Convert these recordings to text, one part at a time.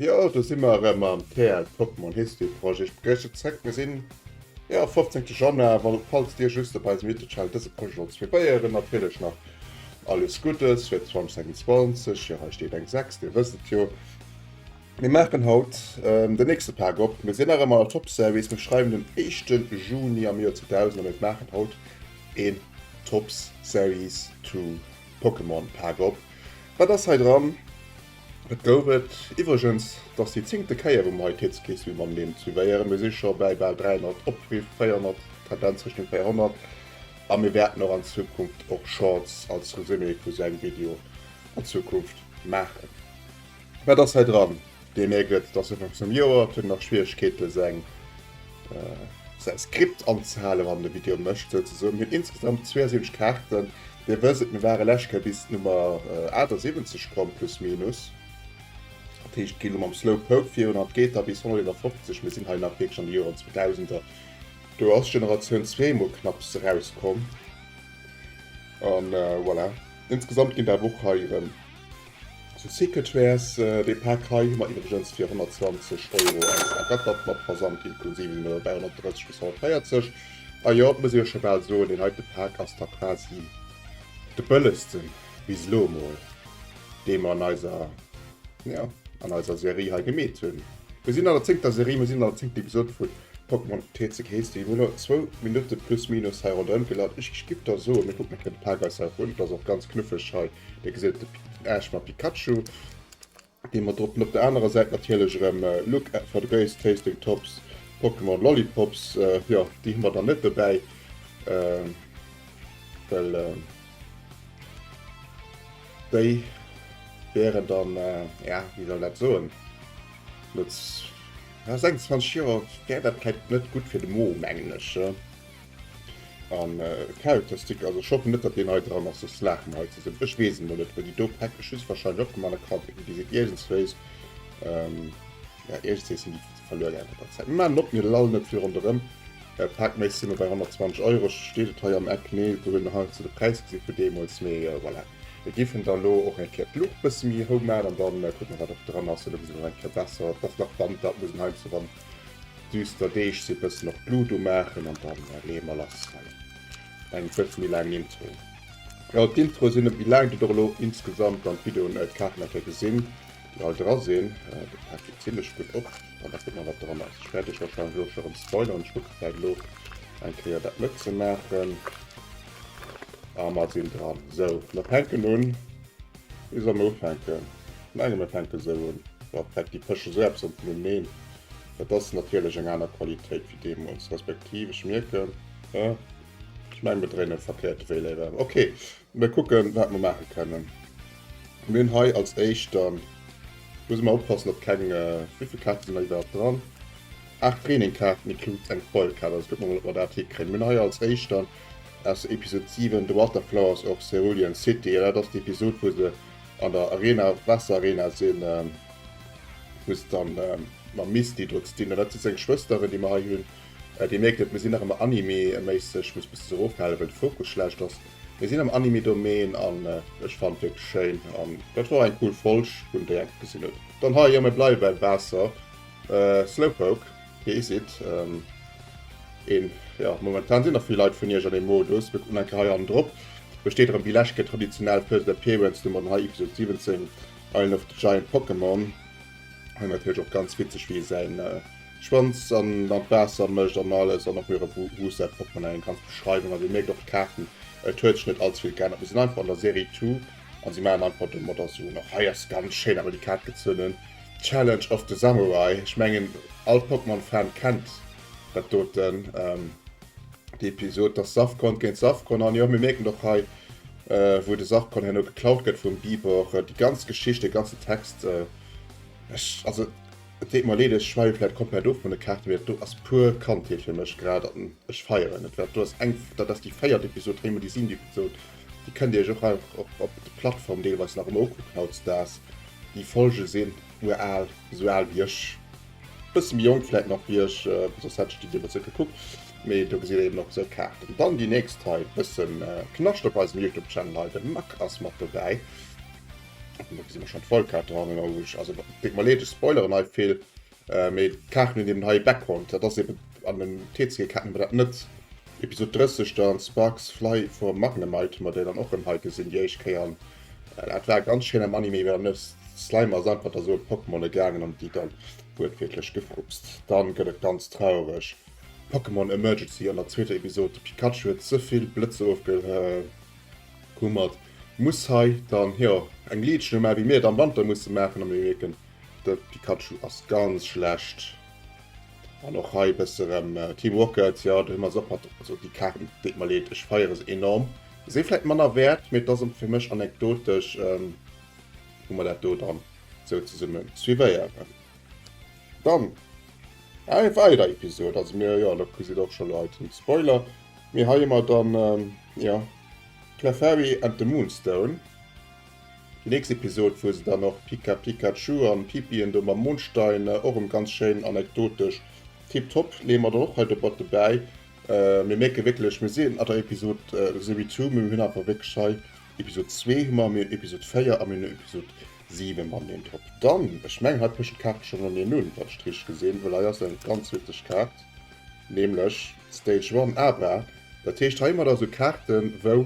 Jo do si mer erëm mam TEL Pokémon History Projet. Ech begréissen zréck, mir sinn. Jo 15 Januar wann op falls dir just op eisem Youtube Channel dëse Projet sollt suivéieren natierlech nach alles Guddes fir 2026 jo hei steet eng 6 dir wësst et jo. Mir maachen haut den nächste Pak op, mir sinn nach ëmmer an der Top Series, mir schreiwen den éischte Juni am Joer 2000 a mir maachen haut een Topps Series to Pokémon Pak op. Wat ass hei dran? Et gouf et iwwregens dass déi zéngte Kéier wou mer hei d'Hitzkrichslidd mam Name suivéieren. Mir si scho bäi bal 300 Opriff, 400, Tendenz Richtung 400 a mir wäerten och an Zukunft och Shorts als Resumé vu sou engem Video an Zukunft maachen. Wat ass hei dran? Dir mierkt et, et ass Ufank vum Joer, et huet nach Schwieregkeete seng säi Skript anzehalen wann en e Video mécht souzesoen. Mir hunn insgesamt 72 Kaarten, Dir wësst et, mir ware lescht Kéier bis d'Nummer 78 komm, plus minus. Dat heescht, et geet elo mam Slow Poke virun an et geet da bis 151. Mir sinn hei nach wierklech an de Joren Zweedausender. Do ass Generatioun zwee emol knapps erauskomm. A voilà, insgesamt ginn der awer och hei erëm. Zu Sicket wär's. Dee Pak hei hu mer iwwregens fir 120 Euro eis ergattert, mat Versand inklusiv sinn mer dobäi 130 bis 140. A jo, et muss ee jo scho bal soen, deen heite Pak ass da quasi de bëllegste bis elo emol, dee mer an eiser, jo, an eiser Serie hei gemeet hunn. Mir sinn an der zéngter Serie, mir sinn an der zéngter Episod vu Pokémon TCG. Heescht, mir hunn elo zwou Minutte plus minus hei ronderëm gelaf. Ech géif da soen, mir kucken e kéier de Pak eis hei run. Et ass och ganz knuffeg hei Dee geséit de Ash mam Pikachu, dee mer drop. Op der anerer Säit natierlech erëm Look at for the Grace Tasting Tops, Pokémon Lollipops. Jo, déi hu mer dann net dobäi. Well déi wären dann, ja, wéi soll dat soen, no 26 Joer wär dat vläicht net gutt fir de Mo, mengen ech. An Kärelplastik, also ech hoffen net dat deen hei dran ass, soss laache mer hei zesummen. Ech weess et mol net wou déi do Päck, ech hu se wahrscheinlech opgemaach an der Kantinn gesit iergendswéis. Jo iergendswéi sinn déi verluer gaangen mat der Zäit. Mir maachen op, mir lallen net vill ronderëm. Päck Méis si mer bei 120 Euro, steet et hei am Eck? Nee, do hunn hei ze de Präis gesi vu deemools, mee voilà. Mir giffen da lo och eng Kéier d'Luucht bësse méi hou maachen an da kucke mer wat och dran ass. Elo gesi mer nach eng Kéier besser, et ass nach Wand, dat muss een heiansdo wann. Düster Deeg si bëssen op d'Lut u maachen an dann lee mer lass. Hei eng bësse méi laang Intro. Jo d'Introe sinn e wéi laang der der elo insgesamt an d'Video net kachen dat der gesinn déi all dra sinn. Dat packt jo zimlech gutt op an da kuckt mer wat dran ass. Ech wäert iech warscheinlech elo scho rëm spoileren. Ech kucke vläit elo eng Kéier dat net ze maachen a mer sinn dran. Sou mer fänken un. Bis am Ufänken, vun engem Ufänke sou un, war d'Betty Pësch esou eppes an Phänomen, et ass natierlech eng aner Qualitéit wéi deemools, respektiv ech mierken, haa, ech mengen mir dréinen verkéierte Wee léiwer ëm, ok, mir kucken wat mir maache kënnen. Mir hunn hei als éischt, da muss mer oppassen datt keng, wivill Kaarte sinn hei iwwerhaapt dran, 8 Trainingkaarten includes eng Foilkaart, also kucke mer mol ob mer dat hikréien. Mir hunn hei als éischt dann Aus Episod 7 The Water Flowers of Cerulean City, dat ass déi Episod wou se an der Arena, Waasser Arena sinn, wou se dann mam Misty do ze dinn hunn. Dat si seng Schwësteren déi mer hei hunn. Dir mierkt et, mir sinn nach ëmmer Anime méisseg, ech muss e bëssen erofhalen well de Fokus schlecht ass. Mir sinn am Anime Domaine an ech fannen et wierklech schéin an dat wor eng cool Folg, wou en déi enke gesinn huet. Dann hei, jo mir bleiwe bäi Waasser, Slowpoke. Kee Site. Een, jo, momentan sinn nach vill Leit vun iech an deem Modus. Mir kucken enker hei an drop. Do steet erëm déi lescht Kéier traditionell First Appearance Nummer an hei Episode 17 Island of the Giant Pokémon. Hei natierlech och ganz witzeg wéi e säin Schwanz an an d'Waasser mécht an alles an och mir erëm wou wou säi Portmonnaie ganz Beschreiwung. A dir mierkt och d'Kaarten, et huet sech net allze vill geännert. Mir sinn einfach an der Serie Two. an sie machen einfach den Motor zu. Nach hei ass ganz schéin awer die Kaart gezunn, Challenge of the Samurai. Ech mengen all Pokémon Fan kennt dat doten, ähm, die Episode, dass Safkon géint Safkon, an jo mir merken och hei äh, wou de Safkon herno geklaut gëtt vum Bibor, äh, die ganz Geschicht, den ganzen Text, äh, ech, also et deet mer leed, ech schweife vielleicht komplett of vun de Kaarten, mee dat do ass pur Kandheet fir mech grad, an ech feieren et, wat do ass eng, dat ass die véiert Episode, Heimelisin, die Episode. Déi kënnt Dir Iech och einfach op op de Plattformen deelweis nach ëmmer ukucken hautdesdaags. Déi Folge sinn ural, esou al wéi ech, e bësse méi jonk vläit nach wéi ech, soss hätt ech déi deemools net gekuckt. Mee do gesitt Dir eben och esou Kaarten. Dann déi nächst hei, e bësse Knascht op eisem Youtube Channel hei, de Mack ass mat dobäi. Do gesi mer schonn d'Vollkaart dohannen, oh, ech, also et deet mer leed, ech spoileren hei vill, Mee d'Kaarten hunn eben hei e Background, dat ass eben an den TCG-Kaarten awer dat net. Episod 30 dann, Sparks fly for Magnemite, mat där dann och rëm hei gesinn déi éischt Kéier. An dat war ganz schéin am Anime, well dann ass d'Slime ass einfach da sou op d'Pokémone gaangen an déi dann wuertwiertlech gefrupst. Dann gëtt et ganz traureg, Pokémon Emergency an der zweeter Episod, de Pikachu huet ze vill Blëtzer ofgehummert, muss hei dann, jo, eng Legion ewéi mir et am Wanter musse maachen a mir mierken, De Pikachu ass ganz schlecht. An och hei bësse rem äh, Team Rocket, ja, do hu mer se och mat, also déi Kaarten, deet mer leed, ech feiere se enorm. Si vläit manner wäert, mee et ass fir mech anekdotesch, ähm, hu mer dat do dann sou zesumme suivéieren. Dann eng weider Episod, also mir, jo, lo gesitt och scho Leit den Spoiler, mee hei hu mer dann, ähm, jo, Clefairy and the Moonstone. Déi nächst Episode wou se dann och Pika Pikachu an Pipi and de Mam Mondstein och em ganz schéin anekdotesch tip top leeë mer dann och hei dobatt dobäi. Mir mierken wierklech mir sinn an der Episode sowéi to mee mir hunn awer wierklech hei Episode zwee hu mer, mir hunn Episode véier a mir hunn Episode siwe mam Name Drop dann. Ech mengen hei pecht d'Kaart schonn no mir nun wann ech et richteg gesinn well hei ass eng ganz witzeg Kaart nämlech Stage One Abra. Dat heescht hei hu mer da sou Kaarten wou.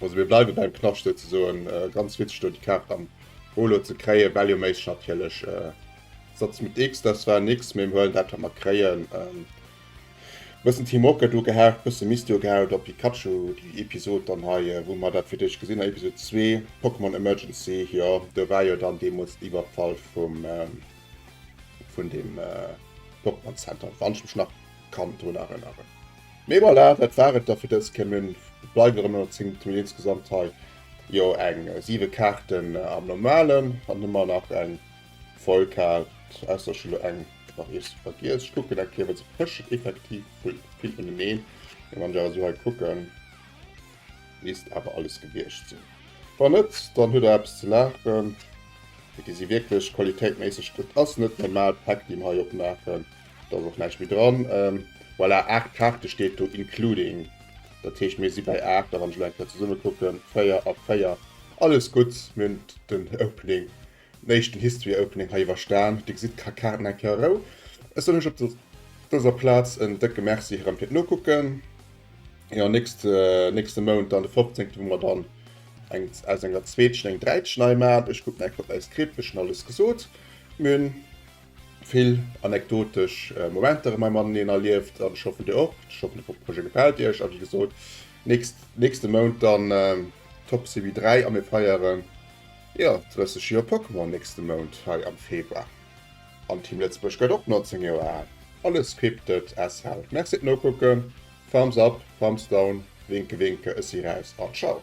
Also mir bleiwe beim Knascht ze soen, äh, ganz witzeg do die Kaart am Holo ze kréie, Value Maze natierlech äh, Satz mit X, das war nix, mir huelen dat wat mer kréien. Ähm, bëssen Team Rocket ugehaakt, bësse Misty ugehaakt op Pikachu, die Episode dann hei, äh, wou mer dat fir d'éischt gesinn, Episode 2, Pokémon Emergency, jo, do war jo dann deemools Iwwerfall vum, ähm, vun dem äh, Pokémon Center, wann ech mech nach kann drun erënneren. Mee voilà, dat war et da fir dës Kéier. Mir bleiwen erëm ënner 10, hu insgesamt hei jo eng 7 Kaarten am Normalen an ëmmer nach eng voll Kaart, ausser ech hunn elo eng nach iergendwou vergiess. Ech kucken eng Kéier, well se pëschen effektiv vill ëneneen. Mee wann ech awer esou hei kucken, misst awer alles gewiescht sinn. Wann net, dann hutt der eppes ze laachen, mee déi si wierklech qualitéitméisseg. Dat ass net normal Päck, déi mer hei opmaachen. Da ass och näischt méi dran. Voilà, 8 Kaarte steet do, including. Dat heescht, mir si bei 8 a wann ech elo eng Kéier zesumme kucken, 4 a 4. Alles gutt, mir hunn den Opening, den éischten History Opening hei iwwerstan. Dir gesitt, ka Kaarten eng Kéier Rou. Ech soen iech op dëser Plaz en décke Merci erëm fir d'Nokucken. Jo, nächst, nächste Mount dann de fofzéngte, wou mer dann eng, aus enger zweetschen eng dräitsch nei maachen. Ech kucken eng Kéier op mäi Skript, ech hunn alles gesot. Mir hunn. Vill anekdotesch Momenter hu mäi Mann an hien erlieft an ech hoffen dir och. Ech hoffen de Projet gefält iech a wéi gesot nächst nächste Mount dann Top Serie 3 a mir feieren jo 30 Joer Pokémon nächste Mount hei am Februar an Team Lëtzebuerg gëtt och 19 Joer al. Alles scripted as hell. Merci fir d'Nokucken. Thumbs up, Thumbs down, Winke Winke, ech si raus an Ciao.